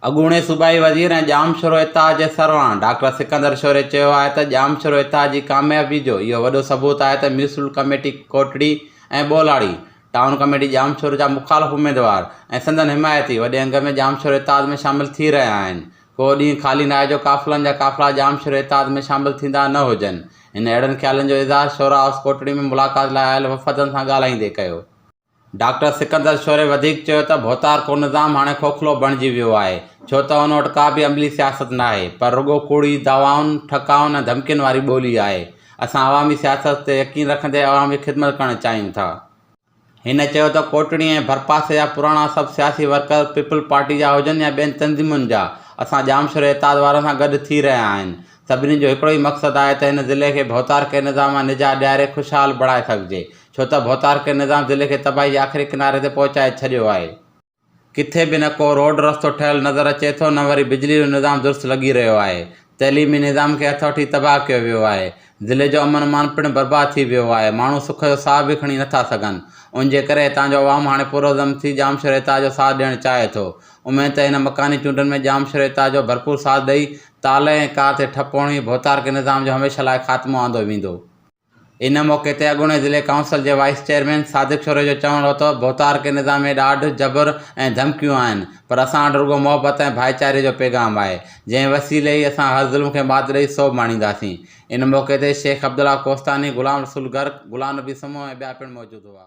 اڳوڻي صوبائي وزير ۽ ڄامشورو اتحاد جي سربراهه ڊاڪٽر سڪندر شوري چيو آهي ته ڄامشورو اتحاد جي ڪاميابي جو اهو وڏو ثبوت آهي ته municipal committee Kotri ۽ ٻولاڙي، town committee Jamshoro جا مخالف اميدوار ۽ سندن حمايتي وڏي انگ ۾ ڄامشورو اتحاد ۾ شامل ٿي رهيا آهن، ڪو ڏينهن خالي ناهي جو قافلن جا قافلا ڄامشورو اتحاد ۾ شامل ٿيندا نه هجن، هن اهڙن خيالن جو اظهار شورا هائوس ڪوٽڙي ۾ ملاقات لاء آيل وفدن سان ڳالهائيندي ڪيو. ڊاڪٽر سڪندر شوري وڌيڪ چيو ته ڀوتار ڪو نظام هاڻي کوکلو بڻجي ويو آهي ڇو ته ان وٽ ڪا به عملي سياست ناهي پر رڳو ڪوڙي دعوائن، ٺڪائن ۽ ڌمڪين واري ٻولي آهي. اسان عوامي سياست تي يقين رکندي عوام جي خدمت ڪرڻ چاهيون ٿا. هن چيو ته ڪوٽڙي ۽ ڀرپاسي جا پراڻا سڀ سياسي ورڪر پيپلز پارٽي جا هجن يا ٻين تنظيمن جا اسان ڄامشوري اتحاد وارن سان گڏ ٿي رهيا آهن سڀني جو هڪڙو ئي مقصد آهي ته هن ضلعي کي ڀوتار ڪي نظام مان نجات ڏياري خوشحال بڻائي سگهجي ڇو ته ڀوتار ڪي نظام ضلعي کي تباهي جي آخري ڪناري تي پهچائي ڇڏيو آهي. ڪٿي به نه ڪو روڊ رستو ٺهيل نظر اچي ٿو نه وري بجلي جو نظام درست لڳي رهيو آهي. تعليمي نظام کي هٿ وٺي تباهه ڪيو ويو آهي. ضلعي جو امن امان پڻ برباد ٿي ويو آهي. ماڻهو سک جو ساهه به کڻي نٿا سگهن. ان جي ڪري هتان جو عوام هاڻي پرعزم ٿي ڄامشوريتاء جو ساٿ ڏيڻ چاهي ٿو. اميد ته هن مڪاني چونڊن ۾ ڄامشوريتاء جو ڀرپور ساٿ ڏئي تالهه ۽ ڪار تي ٺپ هڻي ڀوتار ڪي نظام جو هميشه لاء خاتمو آندو ويندو. ان موقعي تي اڳوڻي ضلعي ڪائونسل جي وائيس چيئرمين صادق شوري جو چوڻ هو ته ڀوتار کي نظام ۾ ڏاڍ، جبر ۽ ڌمڪيون آهن پر اسان وٽ رڳو محبت ۽ ڀائيچاري جو پيغام آهي جنهن وسيلي ئي اسان هر ظلم کي مات ڏئي سوڀ ماڻينداسين. ان موقعي تي شيخ عبدالله ڪوهستاني، غلام رسول گرڪ، غلام نبي سمون ۽ ٻيا پڻ موجود هئا.